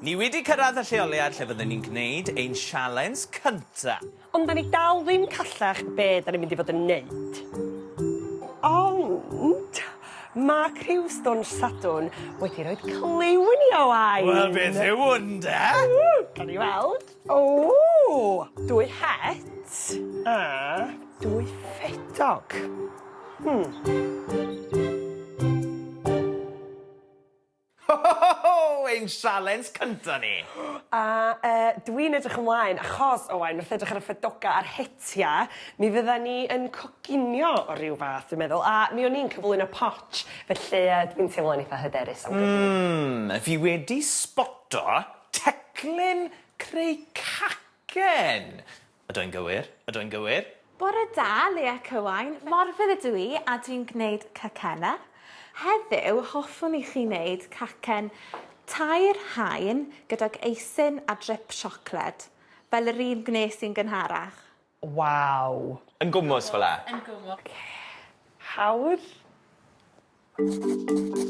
Ni wedi cyrraedd y lleoliad lle fydden ni'n gwneud ein sialens cynta. Ond 'da ni dal ddim callach be' 'da ni mynd i fod yn neud. Ond ma' criw Stôn Sadwrn wedi roid cliw i ni Owain! Wel beth yw 'wn 'de? Ww! Gawn ni weld. Ww! Dwy het a dwy ffedog. Hmm. Ho ho ho ho! Ein sialens cynta ni! A yy dwi'n edrych ymlaen achos Owain wrth edrych ar y ffedoga a'r hetia mi fydda ni yn coginio o ryw fath dwi'n meddwl a mi o'n i'n cyflwyno potsh felly yy dwi'n teimlo'n itha hyderus am godi. Hmm fi wedi sboto Teclyn creu cacen! Ydw i'n gywir? Ydw i'n gywir? Bore da, Leah Cywain. Morfudd ydw i a dwi'n gwneud cacennau. Heddiw, hoffwn i chi wneud cacen tair haen gydag eisin a drip siocled, fel yr un gwnes i'n gynharach. Waw! Yn gwmws fel 'a? Yn gwmws. Oce. Hawdd.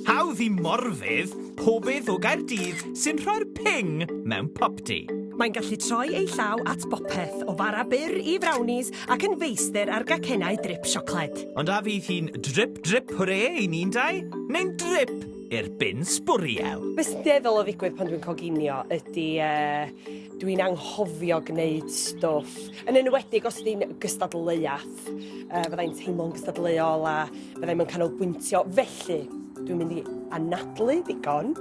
Hawdd i Morfydd, pobydd o Gaerdydd sy'n rhoi'r ping mewn popty. Mae'n gallu troi ei llaw at bopeth, o fara byr i frownies ac yn feistr ar gacennau drip siocled. Ond a fydd hi'n drip drip hwre i ni'n dau, neu'n drip i'r bin sbwriel? Be sy'n dueddol o ddigwydd pan dwi'n coginio ydy yy Dwi'n anghofio gwneud stwff, yn enwedig os ydy'n gystadleuaeth. Uh, Fyddai'n teimlo'n gystadleuol a fyddai'n mynd canolbwyntio. Felly, dwi'n mynd i anadlu ddigon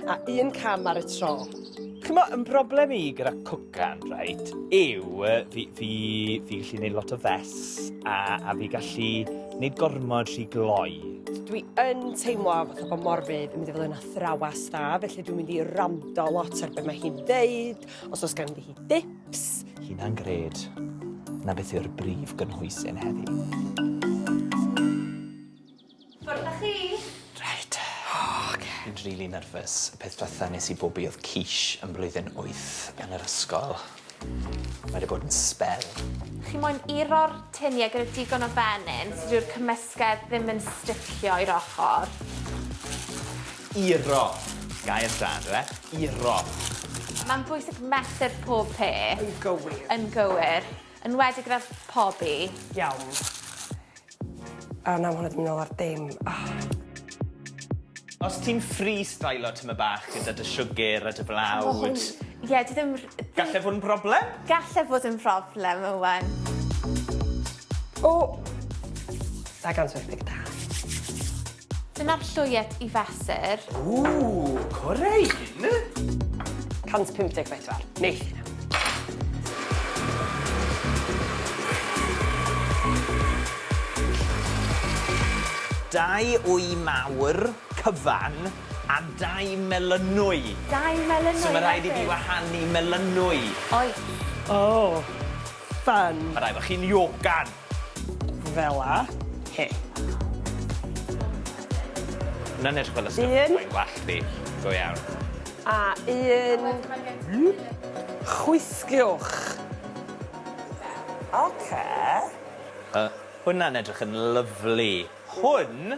a un cam ar y tro. Chymo, yn broblem i gyda cwcan, right, yw fi, fi, fi gallu gwneud lot o fes a, a fi gallu gwneud gormod rhy gloi. Dwi yn teimlo fatha bod Morfydd yn mynd i fod yn athrawes dda, felly dwi'n mynd i rando lot ar beth mae hi'n dweud, os oes gan hi dips. Hynna'n gred. Na beth yw'r brif gynhwysyn heddi. Ffwrdd â chi! Reit. O, oce. Dwi'n rili nerfus. Y peth dwetha nes i bobi oedd quiche yn blwyddyn wyth yn yr ysgol. Mae wedi bod yn sbel. Chi moyn iro'r tinie gyda digon o fenyn so dyw'r cymysgedd ddim yn sticio i'r ochr. Iro. Gair da on'd yw e? Iro. Mae'n bwysig mesur pob peth. Yn gywir. Yn gywir. Enwedig gyda phobi. Iawn. A na, ma' hwnna 'di myn' nôl ar dim. Ahh. Os ti'n freestylo tyme' bach gyda dy siwgr a dy flawd. O hwn, ie, dwi ddim r- dwi... Gallai fod yn broblem? Gallai fod yn broblem, Owen. O! Dau gant wyth deg dau. Dyna'r llwyet i fesur. Ww, core un! 154, neith hynna. Dau wy mawr, cyfan, a dau melynwy. Dau melynwy hefyd? So ma' rhaid i fi wahanu melynwy. Oes. O, ffyni. Ma' rhaid bo' chi'n iocan. Fel 'a. He. Hwnna'n edrych fel y stwff... Un. ...'na i wallt fi. Go iawn. A un. Whoop. Chwythiwch. Oce. Yy, hwnna'n edrych yn lyfli. Hwn